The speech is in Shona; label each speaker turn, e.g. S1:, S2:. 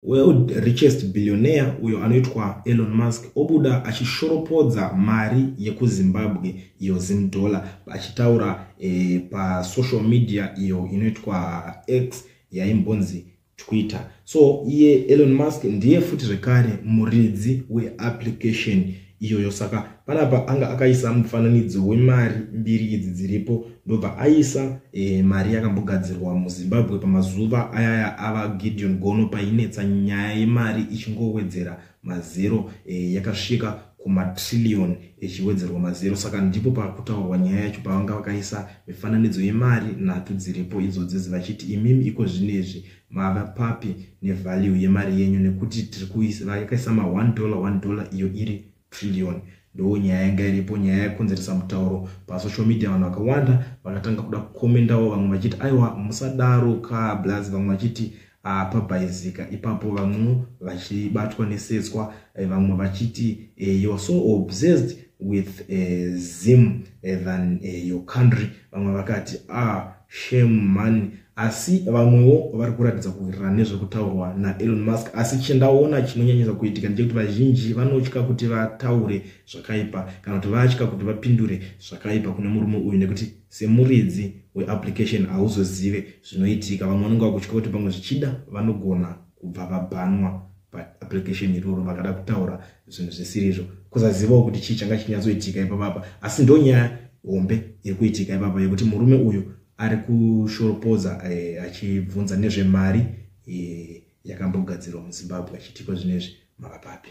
S1: World richest billionaire uyo anoitwa Elon Musk obuda achishoropodza mari yekuZimbabwe iyo Zim dollar achitaura eh, pasocial media iyo inoitwa X yaimbonzi Twitter. So iye Elon Musk ndiye futi zvekare muridzi weapplication iyoyo saka panapa anga akaisa mufananidzo wemari mbiri idzi dziripo ndobva aisa e, mari yakambogadzirwa muzimbabwe pamazuva ayaya ava gideon gono painetsa nyaya yemari ichingowedzera mazero e, yakasvika kumatrillion ichiwedzerwa mazero saka ndipo pakutaurwa nyaya yacho pavanga vakaisa mifananidzo yemari nhatu dziripo idzo dzezi vachiti imimi iko zvinezvi mava papi nevalue yemari yenyu nekuti tiri kuisira yakaisa ma 1 dollar 1 dollar iyo iri trillion ndoo nyaya yanga iripo nyaya yakonzeresa mutauro pasocial media vanhu vakawanda vakatanga kuda kukomendawo vamwe vachiti aiwa musadaro ka blaz vamwe vachiti ah, pabhaizika ipapo vamwe vachibatwa nesetswa eh, vamwe vachiti eh, youare so obsessed with eh, zim than your country vamwe vakati ah, Shame mhani asi vamwewo vari kuratidza kuwirirana nezvekutaurwa naelon musk asi chindaona chinonyanyisa kuitika ndechekuti vazhinji vanotya kuti vataure zvakaipa kana kuti vatya kuti vapindure zvakaipa kune murume uyu nekuti semuridzi weapplication hauzozive zvinoitika vamwe vanenge vakutya kuti pamwe zvichida vanogona kubva vabhanwa paapplication iroro vakada kutaura zvinhu zvisirizvo kusazivawo kuti chii changa chinyatsoitika ipapapa asi ndonyaya hombe iri kuitika ipapa yekuti murume uyu ari kushoropodza eh, achibvunza nezvemari eh, yakambogadzirwa muzimbabwe achitikwa zvino izvi makapapi